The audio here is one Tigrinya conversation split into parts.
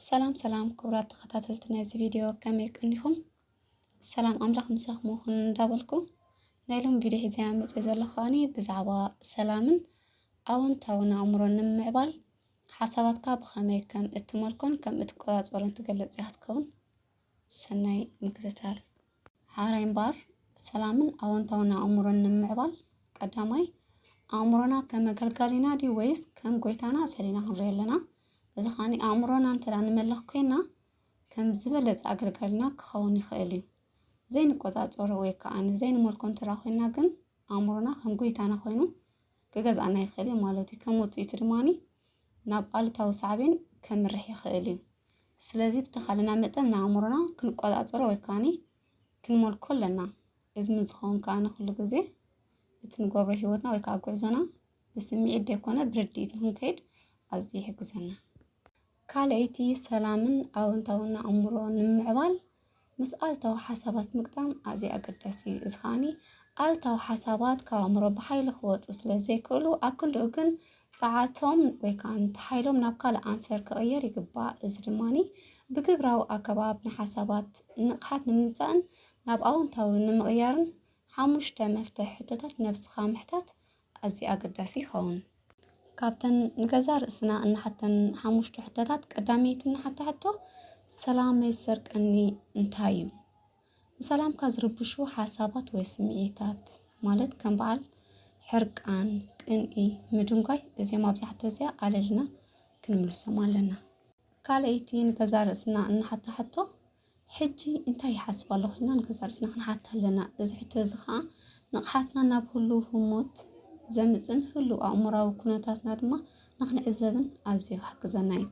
ሰላም ሰላም ክቡራት ተኸታተልቲ ናይዚ ቪድዮ ከመይ ቀኒኹም? ሰላም ኣምላኽ ምሳኹም ይኹን እንዳበልኩ ናይ ሎም ቪድዮ ሒዘ መፅእ ዘለኹ ከዓኒ ብዛዕባ ሰላምን ኣወንታውን ኣእምሮ ንምምዕባል ሓሳባትካ ብኸመይ ከም እትመልኮን ከም እትቆፃፀሮን ትገልፅ እያ ክትከውን። ሰናይ ምክትታል። ሐራይ እምበኣር፣ ሰላምን ኣወንታዊ ኣእምሮን ንምምዕባል፣ ቀዳማይ፣ ኣእምሮና ከም ኣገልጋሊና ድዩ ወይስ ከም ጎይታና ፈሊና ክንሪኦ ኣለና። እዚ ከኣ ኣእምሮና እንተ ንመልኽ ኮይንና፣ ከም ዝበለጸ ኣገልጋሊና ክኸውን ይኽእል እዩ። ዘይንቆጻጸሮ ወይ ከኣ ዘይንመልኮ እንተ ኮይንና ግን፣ ኣእምሮና ከም ጎይታና ኮይኑ ክገዝኣና ይኽእል እዩ ማለት እዩ። ከም ውፅኢቱ ድማ ናብ ኣሉታዊ ሳዕቤን ከምርሕ ይኽእል እዩ። ስለዚ ብተኻለና መጠን ንኣእምሮና ክንቆፃፀሮ ወይ ከዓኒ ክንመልኮ ኣለና። እዚ ምስ ዝኸውን ከዓ ንኩሉ ግዜ እቲ ንገብሮ ሂወትና ወይ ከዓ ጉዕዞና ብስምዒት ዘይኮነ ብርድኢት ንክንከይድ ኣዝዩ ይሕግዘና። ካልኣይቲ፣ ሰላምን ኣወንታውን ኣእምሮ ንምምዕባል ምስ ኣልታዊ ሓሳባት ምግጣም ኣዝዩ ኣገዳሲ እዩ። እዚ ከኣኒ ኣልታዊ ሓሳባት ካብ ኣእምሮ ብሓይሊ ክወጹ ስለ ዘይክእሉ ኣብ ክንድኡ ግን ጸዓቶም ወይ ከዓ ነቲ ሓይሎም ናብ ካልእ ኣንፈር ክቕየር ይግባእ። እዚ ድማኒ ብግብራዊ ኣገባብ ንሓሳባት ንቕሓት ንምምጻእን ናብ ኣወንታዊ ንምቕያርን ሓሙሽተ መፍትሕ ሕቶታት ነብስኻ ምሕታት ኣዝዩ ኣገዳሲ ይኸውን። ካብተን ንገዛእ ርእስና እንሓተን ሓሙሽተ ሕቶታት ቀዳመይቲ እንሓታ ሕቶ፣ ሰላመይ ዝሰርቀኒ እንታይ እዩ? ንሰላምካ ዝርብሹ ሓሳባት ወይ ስምዒታት ማለት ከም በዓል ሕርቃን፣ ቅንኢ፣ ምድንጓይ እዚኦም ኣብዛ ሕቶ እዚኣ ኣለልና ክንምልሶም ኣለና። ካልኣይቲ ንገዛእ ርእስና እንሓታ ሕቶ፣ ሕጂ እንታይ ይሓስብ ኣሎ ኪልና ንገዛእ ርእስና ክንሓት ኣለና። እዚ ሕቶ እዚ ኸኣ ንቕሓትና ናብ ህሉው ህሞት ዘምጽን ህሉው ኣእምሮኣዊ ኩነታትና ድማ ንኽንዕዘብን ኣዝዩ ክሕግዘና እዩ።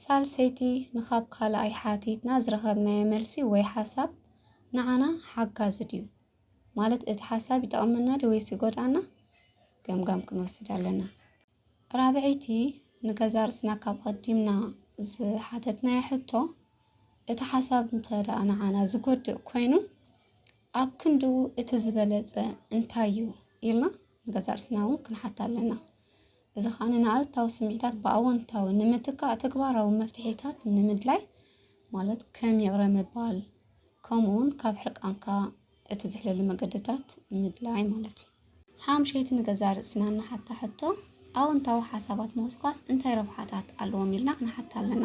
ሳልሰይቲ፣ ንኻብ ካልኣይ ሓቲትና ዝረኸብናዮ መልሲ ወይ ሓሳብ ንዓና ሓጋዚ ድዩ? ማለት እቲ ሓሳብ ይጠቕመና ድዩ ወይስ ይጎድኣና? ገምጋም ክንወስድ ኣለና። ራብዐይቲ ንገዛእ ርእስና ካብ ኣቐዲምና ዝሓተትናያ ሕቶ፣ እቲ ሓሳብ እንተ ደኣ ንዓና ዝጎድእ ኮይኑ ኣብ ክንዱ እቲ ዝበለጸ እንታይ እዩ ኢልና ንገዛእ ርእስና እውን ክንሓት ኣለና። እዚ ከኣ ንኣሉታዊ ስምዒታት ብኣወንታዊ ንምትካእ ተግባራዊ መፍትሒታት ንምድላይ ማለት ከም ይቕረ ምባል ከምኡውን ካብ ሕርቃንካ እቲ ዝሕለሉ መገድታት ምድላይ ማለት እዩ። ሓምሸይቲ ንገዛእ ርእስና እንሓታ ሕቶ፣ ኣወንታዊ ሓሳባት ምኹስኳስ እንታይ ረብሓታት ኣለዎም ኢልና ክንሓታ ኣለና።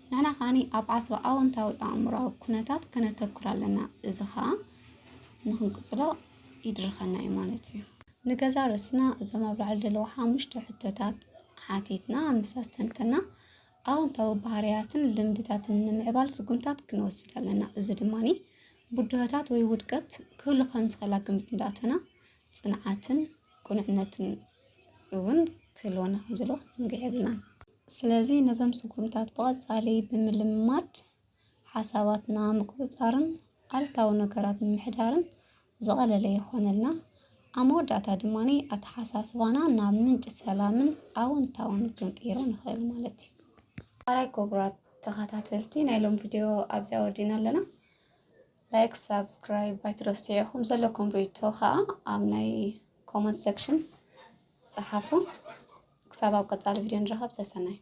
ንሕና ከኣ ኣብ ዓስቢ ኣወንታዊ ኣእምሮኣዊ ኩነታት ከነተኩር ኣለና፣ እዚ ከኣ ንክንቅጽሎ ይድርኸና እዩ ማለት እዩ። ንገዛእ ርእስና እዞም ኣብ ላዕሊ ዘለዉ ሓሙሽተ ሕቶታት ሓቲትና ምስ ኣስተንተና ኣወንታዊ ባህርያትን ልምድታትን ንምዕባል ስጉምታት ክንወስድ ኣለና። እዚ ድማ ብድሆታት ወይ ውድቀት ክህሉ ከም ዝኽእል ኣብ ግምት እንዳእተና ጽንዓትን ቅኑዕነትን እውን ክህልወና ከም ዘለዎ ክንዝንግዕ የብልናን። ስለዚ ነዞም ስጉምታት ብቐጻሊ ብምልምማድ ሓሳባትና ምቁጽጻርን ኣሉታዊ ነገራት ምምሕዳርን ዝቐለለ ይኾነልና። ኣብ መወዳእታ ድማ ኣተሓሳስባና ናብ ምንጪ ሰላምን ኣወንታውን ክንቅይሮ ንኽእል ማለት እዩ። ኣራይ ክቡራት ተኸታተልቲ ናይ ሎም ቪድዮ ኣብዚኣ ወዲእና ኣለና። ላይክ ሳብስክራይብ ኣይትረስዑ ኹም ዘለኩም ሪቶ ከዓ ኣብ ናይ ኮመንት ሰክሽን ፀሓፉ ክሳብ ኣብ ቀፃሊ ቪድዮ ንረኸብ ሰሰናይ